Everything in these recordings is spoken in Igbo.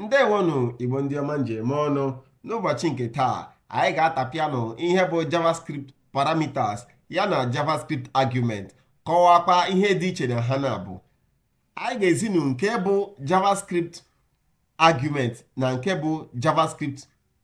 ndewonụ igbo ndị ọma m ji eme ọnụ n'ụbọchị nke taa anyị ga-atapịanụ ihe bụ javascript parameters ya na javascript argument kọwakwa ihe dị iche na ha n'abụọ anyị ga-ezinu nke bụ javascript argument na nke bụ javascript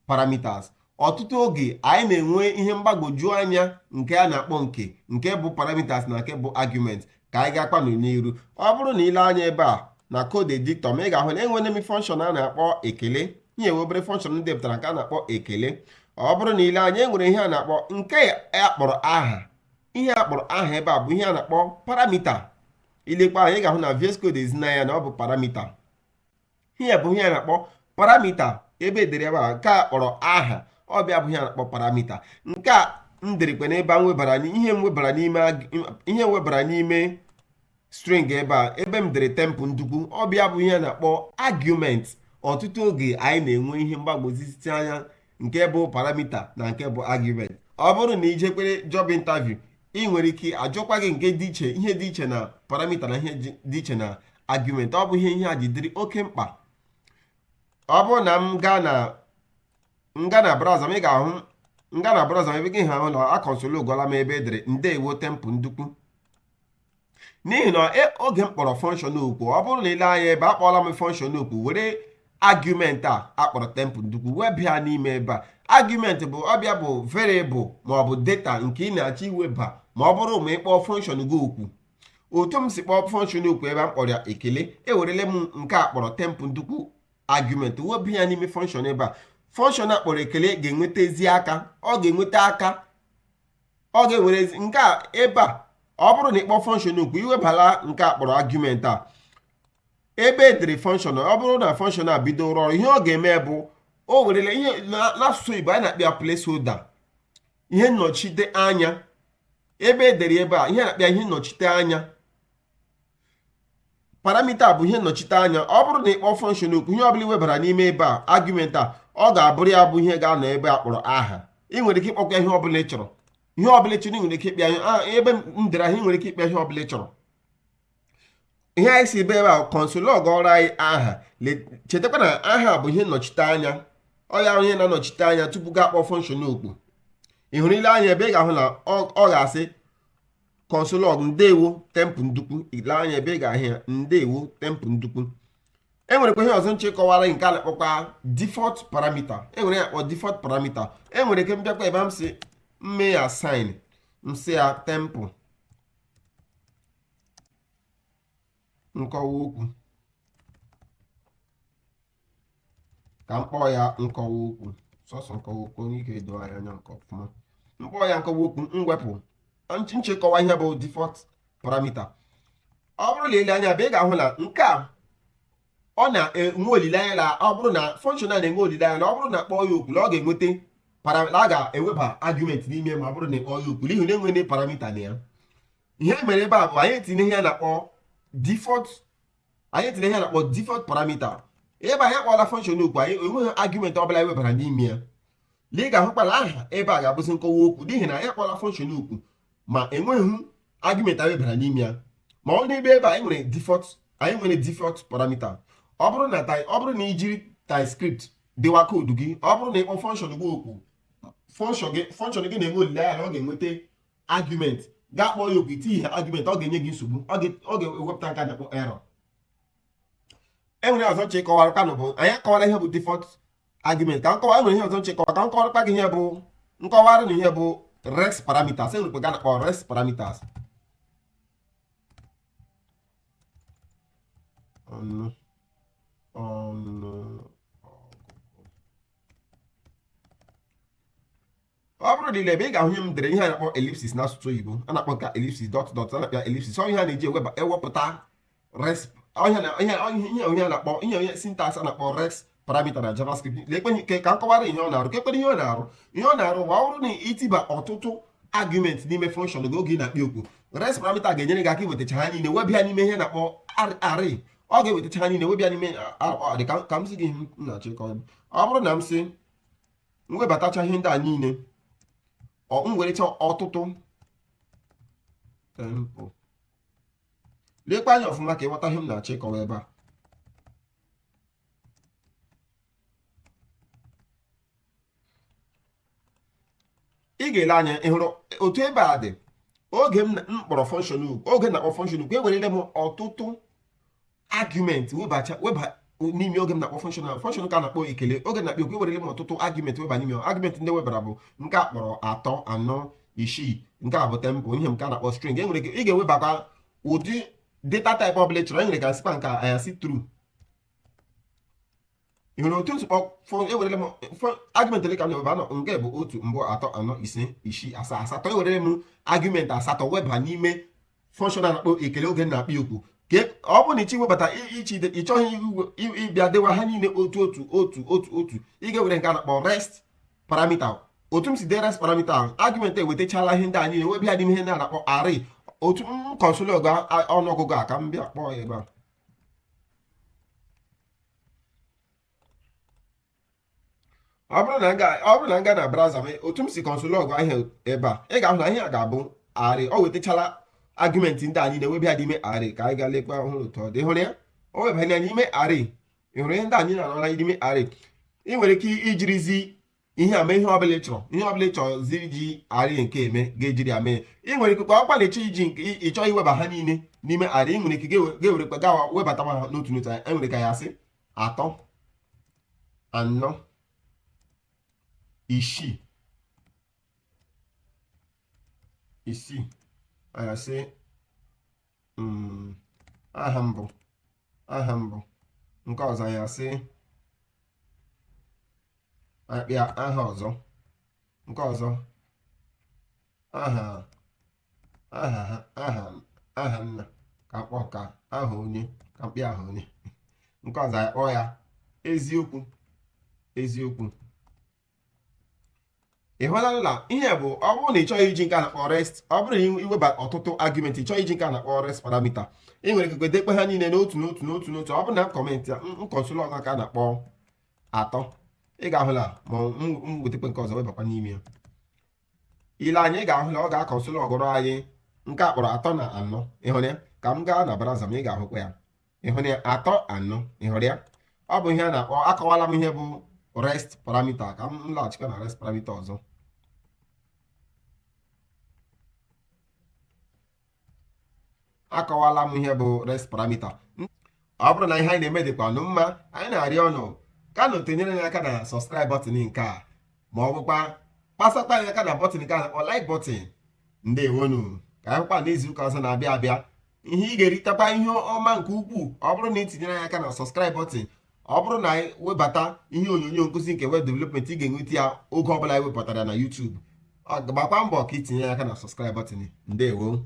parameters ọtụtụ oge anyị na-enwe ihe mgbagwoju anya nke a na-akpọ nke nke bụ parameters na nke bụ argument ka anyị gaakwanụ n'iru ọ bụrụ na ile anya ebe a na code editor m ị ga-ahụ na enwere m function a na-akpọ ekele enwere obere function m depụtara nke a na-akpọ ekele ọ bụrụ na ile anya enwere ihe a na-akpọ nke a kpọrọ aha ihe a kpọrọ aha ebe a bụ ihe a na-akpọ parameter ilekwa anya ị ga-ahụ na VS Code ezina ya na ọ bụ parameter ihe a bụ ihe a na-akpọ parameter ebe edere ebe a nke a kpọrọ aha ọ bụ ya bụ ihe a na-akpọ parameter nke a m derekwa n'ebe a m webara ihe m webara n'ime ihe m webara n'ime string ebe a ebe m dere Temple Ndukwu ọ bụ ya bụ ihe a na-akpọ argument ọtụtụ oge anyị na-enwe ihe mgbagwoju anya nke bụ parameter na nke bụ argument ọ bụrụ na i jekwara job interview e nwere ike ajụkwa gị nke dị iche ihe dị iche na parameter na ihe dị iche na argument ọ bụ ihe ihe a ji dịrị oke mkpa ọ bụrụ na m gaa na nga na browser m ị ga-ahụ nga na browser m ebe a ị ga-ahụ na aconsole logọla m ebe edere ndewo Temple Ndukwu n'ihi na e, oge m kpọrọ function oku ọ bụrụ na ile anya ebe a akpọọla m function oku were argument a akpọrọ Temple Ndukwu weba ya n'ime ebe a argument bụ ọ bụ ya bụ variable ma ọ bụ data nke ị na-achọ iweba ma ọ bụrụ ma ị kpọọ function gị oku otu m si kpọọ function oku ebe a kpọrọ ya ekele ewerele m nke a kpọrọ Temple Ndukwu argument weba ya n'ime function ebe a function a kpọrọ ekele ga-enwetazi aka ọ ga-enweta aka ọ ga-ewere nke a ebe a ọ bụrụ na ị kpọọ function oku iwebala nke a kpọrọ argument a ebe edere function ọ bụrụ na function a bido rụọ ọrụ ihe ọ ga-eme bụ o werele ihe n'asụsụ Igbo anyị na-akpọ ya placeholder ihe nnọchite anya ebe edere ebe a ihe a na-akpọ ya ihe nnọchite anya parameter bụ ihe nnọchite anya ọ bụrụ na ị kpọọ function oku ihe ọbụla iwebara n'ime ebe a argument a ọ ga-abụrụ ya bụ ihe ga-anọ ebe a kpọrọ aha ị nwere ike ịkpọkwa ihe ọbụla ị chọrọ ihe ọbụla ị chọrọ ị nwere ike ịkpọ ya ihe ah, ebe m dere ahụ ị nwere ike ịkpọ ya ihe ọbụla ị chọrọ ihe anyị si ebe ebe a console logọọrọ anyị aha chetakwa na aha bụ ihe nnọchite anya ọ ya onye na-anọchite anya tupu gị akpọọ function oku ị hụrụ ile anya ebe a ị ga-ahụ na ọ ga-asị console log ndewo Temple Ndukwu ile anya ebe a ị ga-ahụ ya ndewo Temple Ndukwu e nwerekwa ihe ọzọ m chọ ịkọwara nke a na-akpọkwa default parameter e nwere ihe a kpọ default parameter e nwere ike m bịakwa ebe a m sị m mee ya assign m sị ya Temple nkọwa okwu ka m kpọọ ya nkọwa okwu sọsọ nkọwa okwu o nwee ike edo anya anya nke ọfụma m kpọọ ya nkọwa okwu m wepụ nch- m chọ ịkọwa ihe bụ default parameter ọ bụrụ na ile anya ebe a ị ga-ahụ na nke a ọ na-enwe olileanya na ọ bụrụ na function a na-enwe olileanya na ọ bụrụ na kpọọ ya oku na ọ ga-enweta para- na a ga-eweba argument n'ime ma ọ bụrụ na ịkpọọ ya oku n'ihi na enwere parameter na ya ihe mere ebe a bụ anyị tinye ihe na-akpọ default anyị tinye ihe na-akpọ default parameter ebe anyị akpọla function oku anyị enweghị argument ọbụla anyị webara n'ime ya na ị ga-ahụkwa na aha ebe a ga-abụzi nkọwa okwu n'ihi na anyị akpọla function oku ma enweghị argument anyị webara n'ime ya ma ọ n'ebe ebe anyị nwere default anyị nwere default parameter ọ bụrụ na ọ bụrụ na ijiri TypeScript dewa koodu gị ọ bụrụ na ịkpọ function gị oku function gị na-enwe olileanya na ọ ga-enweta argument gị akpọọ ya oku itinyeghị argument ọ ga-enye gị nsogbu ọ ga-ewepụta nke a na-akpọ error enwere ọzọ m chọ ịkọwarakwa unu bụ anyị akọwala ihe bụ default argument ka m kọwa enwere ihe ọzọ m chọ ịkọwa ka m kọwarakwa gị ihe bụ m kọwara unu ihe bụ rest parameters enwerekwa nke a na-akpọ rest parameters ọ bụrụ na ile ebe a ị ga-ahụ ihe m dere ihe a na-akpọ ellipsis n'asụsụ oyibo a na-akpọ nke ellipsis dot dot a na-akpọ ellipsis ọ ihe a na-eji eweba- ewepụta rest ihe na- ihe ihe- ihe onye a na-akpọ ihe onye syntax a na-akpọ rest parameter na javascript lekwa anya ka m kọwara ihe ọ na-arụ ka ekpere ihe ọ na-arụ ihe ọ na-arụ ma ọ bụrụ na itiba ọtụtụ argument n'ime function gị oge ị na-akpọ ya oku rest parameter ga-enyere gị aka iwetacha ha niile weba ya n'ime ihe na-akpọ ar- array ọ ga-ewetacha ha niile weba ya n'ime a- a- ọ dị ka ka m zi gị ihe m na-achọ ịkọwa ọ bụrụ na m sị m webatacha ihe ndị a niile ọ m werecha ọtụtụ temple lekwa anya ọfụma ka ịghọta ihe m na-achọ ịkọwa ebe a ị ga-ele anya ị hụrụ otu ebe a dị oge m na- m kpọrọ function oku oge na-akpọ function oku ewerele m ọtụtụ argument webacha weba n'ime oge m na-akpọ function function nke a na-akpọ ekele oge na-akpọ oku ewerele m ọtụtụ argument weba n'ime argument ndị webara bụ nke a kpọrọ atọ anọ isii nke a bụ temple ihe nke a na-akpọ string e nwere ike iwebakwa ụdị data type ọbụla ị chọrọ e nwere ike m sịkwa nke a sị true ị hụrụ otu m si kpọọ ewerele m argument ole ka m na-eweba anọ nke bụ otu mbụ atọ anọ ise isii asaa asatọ ewerele m argument asatọ weba n'ime function a na-akpọ ekele oge na-akpọ oku ka ọ bụrụ na ịchọ iwebata ịchọ ịchọghị ịbịa dewa ha niile otu otu otu otu otu ị ga-ewere nke a na-akpọ rest parameter otu m si dee rest parameter ahụ argument ewetachala ihe ndị a niile weba ya n'ime ihe ndị a na-akpọ array otu m console ọnụọgụgụ a ka m bịa kpọọ ya ebe a ọ bụrụ na m gaa ọ bụrụ na m gaa na browser m otu m si console log ihe a ebe a ị ga-ahụ na ihe a ga-abụ array o wetachala argument ndị a niile weba ha n'ime array ka anyị gaa lekwa ị hụrụ otu ọ dị hụrụ ya o webanye ya n'ime array ị hụrụ ihe ndị a niile anọla n'ime array ị nwere ike ijirizi ihe a mee ihe ọbụla ịchọrọ ihe ọbụla ịchọzi iji array nke eme ị ga-ejiri ya mee ị nwere ike ọkwa na ịchọ iji ịchọ iweba ha niile n'ime array ị nwere ike ga-ewerekwa gawa webata ha n'otu n'otu e nwere ike anyị asị atọ anọ isii isii anyị asị mm, aha mbụ aha mbụ nke ọzọ anyị asị apịa aha ọzọ nke ọzọ aha aha ha aha aha nna ka akpọ ka aha onye ka m pịa aha onye nke ọzọ anyị kpọọ ya eziokwu eziokwu ị hụla na ihe bụ ọ bụrụ na ị chọghị iji nke a na-akpọ rest ọ bụrụ na iweba ọtụtụ argument ị chọghị iji nke a na-akpọ rest parameter ị nwere ike dekpe ha niile n'otu n'otu n'otu n'otu ọ bụrụ na m comment ya m console log nke a na-akpọ atọ ị ga-ahụ na ma m wetakwa nke ọzọ webakwa n'ime ya ile anya ị ga-ahụ na ọ ga-console logụrụ anyị nke a kpọrọ atọ na anọ ịhụrụ ya ka m gaa na browser m ị ga-ahụkwa ya ịhụrụ ya atọ anọ ịhụrụ ya ọ bụ ihe a na-akpọ akọwala m ihe bụ rest parameter ka m laghachikwa na rest parameter ọzọ akọwala m ihe bụ rest parameter ọ bụrụ na ihe anyị na-eme dịkwa unu mma anyị na-arịọ unu ka unu tinyere anyị aka na subscribe button nke a ma ọ bụkwa kpasata anyị aka na button nke a na-akpọ like button ndewonu ka anyị hụkwa n'izu ụka ọzọ na-abịa abịa ihe ị ga-eritekwa ihe ọma nke ukwuu ọ bụrụ na ị tinyere anyị aka na subscribe button ọ bụrụ na anyị webata ihe onyonyo nkụzi nke web development ị ga-enweta ya oge ọbụla anyị wepụtara ya na YouTube gbakwa mbọ ka itinye ya aka na subscribe button ndewo